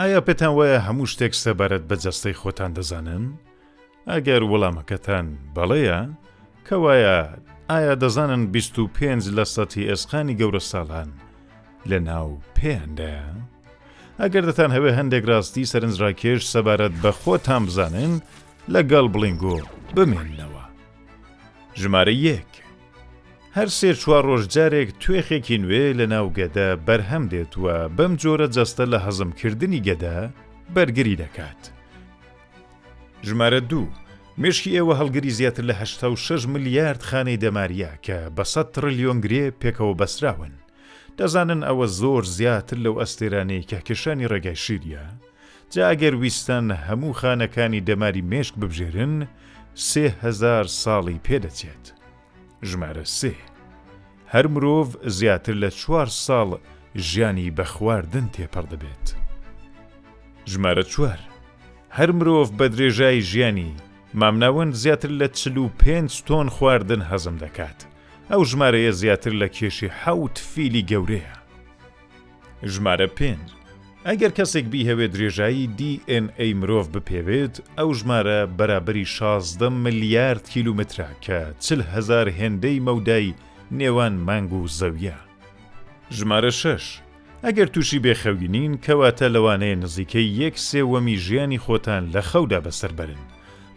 ئایا پێتان وایە هەموو شتێک سەبارەت بە جەستەی خۆتان دەزانن؟ ئەگەر وەڵامەکەتان بەڵێیە، کەوایە ئایا دەزانن بیست و پێنج لە سەتی ئێسقانی گەورەساڵان لە ناو پێیاندایە؟ ئەگەر دەتان هەوێ هەندێک ڕاستی سەرنجڕاکێش سەبارەت بە خۆتان بزانن لەگەڵ بڵنگۆ بمێنەوە. ژمارە یەک هەر سێ چوار ڕۆژ جارێک توێخێکی نوێ لە ناو گەدە بەرهەم دێت و بەم جۆرە جەستە لە هەزم کردنی گەدە بەرگری دەکات. ژمارە دوو، مێشکی ئێوە هەڵگری زیاتر لە هەشتا و شەش ملیارد خانەی دەماریە کە بە سەد تڕلیۆن گرێ پێکەوە بەستراون. دەزانن ئەوە زۆر زیاتر لەو ئەستێرانەی کەهکێشانی ڕێگای شیریە؟ جا ئەگەر ویستن هەموو خانەکانی دەماری مێشک ببژێرن سێ هەزار ساڵی پێ دەچێت. ژمارە سێ. هەر مرۆڤ زیاتر لە چوار ساڵ ژیانی بە خواردن تێپەڕ دەبێت. ژمارە چوار. هەر مرۆڤ بە درێژای ژیانی، مامناوەند زیاتر لە چل و پێنج تۆن خواردن هەزم دەکات. ئەو ژمارەیە زیاتر لە کێشی حەوت فیلی گەورەیە. ژمارە پێنج، ئەگەر کەسێک بیهەوێت درێژایی DNA مرۆڤ بپێوێت، ئەو ژمارە بەرابەری شازدە ملیارد کیلومترە کە چل هەزار هێندەی مەودای نێوان مانگ و زەویە. ژمارە شەش، ئەگەر تووشی بێ خەوی نین، کەواتە لەوانەیە نزیکەی یەک سێوەمی ژیانی خۆتان لە خەودا بەسەر بەرن،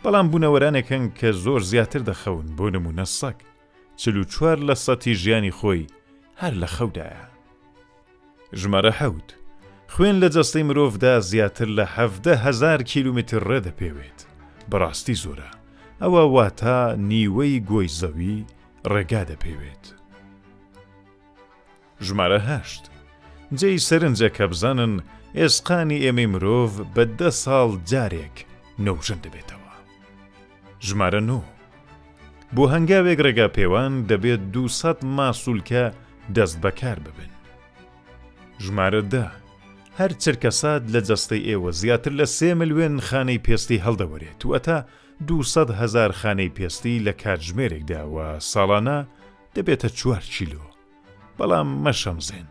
بەڵام بوونەوەرانێک هەن کە زۆر زیاتر دەخەون، بۆ نموونە سەگ. چل و چوار لە سەتی ژیانی خۆی هەر لە خەودایە. ژمارە حەوت، خوێن لە جەستەی مرۆڤدا زیاتر لە حەڤدە هەزار کیلومتر ڕێ دەپێوێت، بەڕاستی زۆرە، ئەوە واتا نیوەی گۆی زەوی ڕێگا دەپێوێت. ژمارە هەشت. جێی سەرنجە کە بزانن ئێسقانی ئێمەی مرۆڤ بە دە ساڵ جارێک نۆژەن دەبێتەوە. ژمارە نۆ. بۆ هەنگاوێک ڕێگاپێوان دەبێت دوو سەد ماسولکە دەست بەکار ببن. ژمارە دە. هەر چرکەسات لە جەستەی ئێوە زیاتر لە سێ ملوێن خانەی پێستی هەڵدەوەرێت واتە دوو سەد هەزار خانەی پێستی لە کاتژمێرێکدا و ساڵانە دەبێتە چوار کیلۆ. بەڵام مەشەمزێن،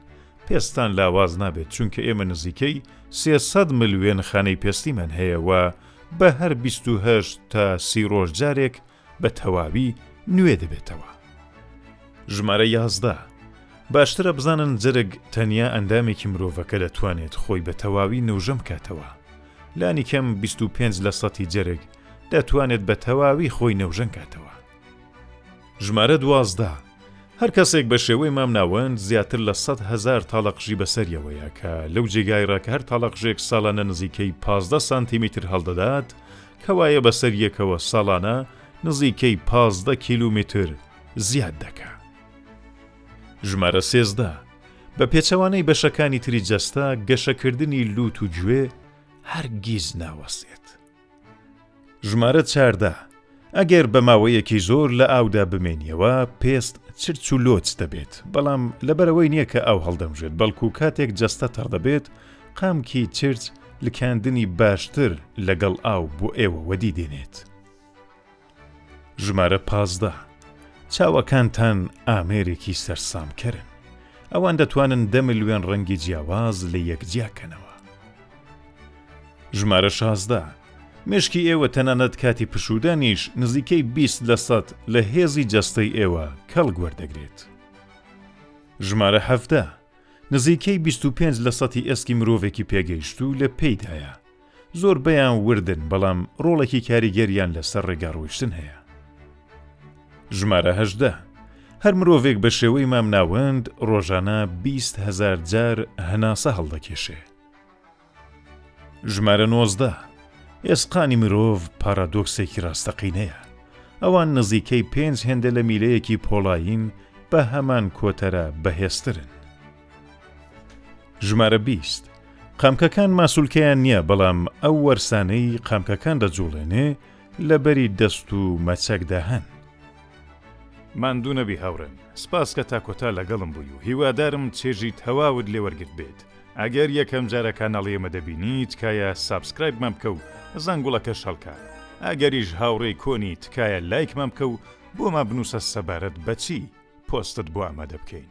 پێستان لاواز نابێت، چونکە ئێمە نزیکەی سێ سەد مل وێنەخانەی پێستیمان هەیە و بە هەر بیست و هەشت تا سی ڕۆژ جارێک بە تەواوی نوێ دەبێتەوە. ژمارە یازدە، باشترە بزانن جەرگ تەنیا ئەندامێکی مرۆڤەکە دەتوانێت خۆی بە تەواوی نۆژەن بکاتەوە. لانیکەم بیست و پێنج لەسەتی جەرگ دەتوانێت بە تەواوی خۆی نۆژەن کاتەوە. ژمارە دوازدە، هەر کەسێک بە شێوەی مامناوەند زیاتر لە سەد هەزار تاڵەقژی بەسەریەوەیە کە لەو جێگایڕا کە هەر تاڵەقژێک ساڵانە نزیکەی پازدە سانتیمیتر هەڵدەدات کەوایە بەسەر یەکەوە ساڵانە نزیکەی پازدە کیلومیتر زیاد دەکا. ژمارە سێزدە، بە پێچەوانەی بەشەکانی تری جەستە، گەشەکردنی لووت و گوێ هەرگیز ناوەستێت. ژمارە چاردە، ئەگەر بە ماوەیەکی زۆر لە ئاودا بمێنیەوە پێست چرچ و لۆچ دەبێت، بەڵام لەبەرئەوەی نییە کە ئاو هەڵدەمژێت بەڵکو کاتێک جەستە تەڕ دەبێت قامکی چرچ لکاندنی باشتر لەگەڵ ئاو بۆ ئێوە وەدی دێنێت. ژمارە پازدە، چاوەکانتان ئامێرێکی سەرسامکەرن. ئەوان دەتوانن دە ملوێن ڕەنگی جیاواز لە یەک جیا کەنەوە. ژمارە شازدە، مێشکی ئێوە تەنانەت کاتی پشوودانیش نزیکەی بیست لە سەد لە هێزی جەستەی ئێوە کەڵک وەردەگرێت. ژمارە حەڤدە، نزیکەی بیست و پێنج لە سەتی ئێسکی مرۆڤێکی پێگەیشتوو لە پێیدایە. زۆربەیان وردن بەڵام ڕۆڵێکی کاریگەریان لەسەر ڕێگا ڕۆیشتن هەیە. ژمارە هەژدە، هەر مرۆڤێک بە شێوەی مامناوەند ڕۆژانە بیست هەزار جار هەناسە هەڵدەکێشێ. ژمارە نۆزدە، ئێسقانی مرۆڤ پارادۆکسێکی ڕاستەقینەیە، ئەوان نزیکەی پێنج هێندە لە میلەیەکی پۆڵایین بە هەمان کۆتەرە بەهێزترن. ژمارە بیست، قامکەکان ماسولکەیان نییە بەڵام ئەو وەرسانەی قامکەکان دەجوڵێنێ لە بەری دەست و مەچەکدا هەن. ماندوو نەبی هاوڕێم، سپاس کە تا کۆتا لەگەڵم بووی و هیوادارم چێژی تەواوت لێ وەرگرت بێت، ئەگەر یەکەم جارە کاناڵی ئێمە دەبینی تکایە سابسکرایبمان بکە و زەنگوڵەکەش هەڵکە، ئەگەریش هاوڕێی کۆنی تکایە لایکمان بکە و بۆمان بنووسە سەبارەت بە چی پۆستت بۆ ئامادە بکەین.